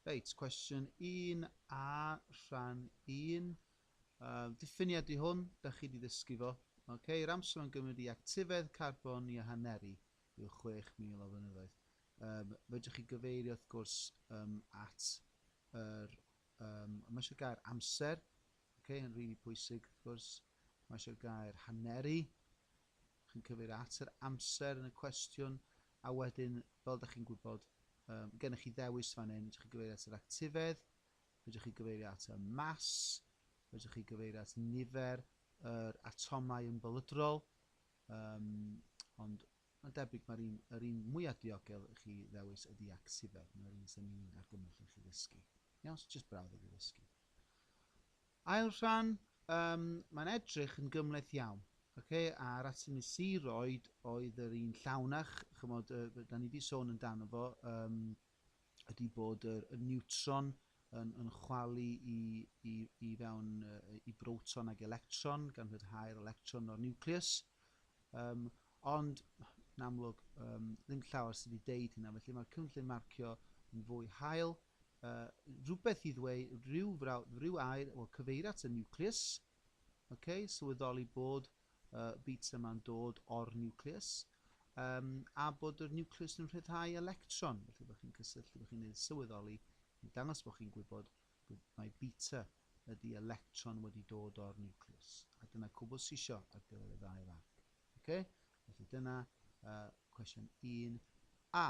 Reit, cwestiwn 1 a rhan 1. Uh, diffiniad i hwn, da chi wedi ddysgu fo. Okay, yr amser mae'n gymryd i actifedd carbon i ahaneru yw 6,000 o flynyddoedd. Um, fedrwch chi gyfeirio, wrth gwrs, um, at yr... Um, mae eisiau gair amser, okay, yn rili really pwysig, wrth gwrs. Mae eisiau gair haneru, chi'n cyfeirio at yr amser yn y cwestiwn, a wedyn, fel dych chi'n gwybod, um, gennych chi ddewis fan hyn, fedrwch chi gyfeirio at yr actifedd, fedrwch chi gyfeirio at y mas, fedrwch chi gyfeirio at nifer yr atomau yn bylydrol, um, ond mae'n debyg mae'r un, yr un mwyaf diogel i chi ddewis ydy actifedd, mae'r un sy'n ni'n argymell i chi ddysgu. Iawn, so jyst brawddeg i ddysgu. Ail rhan, yym, mae'n edrych yn gymhleth iawn, ok, a'r atymu siroedd oedd yr un llawnach, chymod, yy, da ni wedi sôn amdano fo, um, ydy bod y, y niwtron yn, yn chwalu i, i, i fewn uh, i broton ag electron, gan rhyddhau'r electron o'r niwcleus, um, ond yn amlwg um, ddim llawer sydd wedi deud hynna, felly mae'r cynllun marcio yn fwy hael, rhywbeth i ddweud, rhyw frawd, rhyw air, wel, cyfeir at y niwcleus, okay, sylweddoli bod uh, bits yma'n dod o'r niwcleus, um, a bod yr niwcleus yn rhyddhau electron, felly bod chi'n cysylltu, bod chi'n gwneud sylweddoli, i dangos bod chi'n gwybod bod mae beta ydy electron wedi dod o'r niwcleus, a dyna cwbl sisio ar gyfer y ddau fan. Okay? Felly dyna uh, cwestiwn 1a.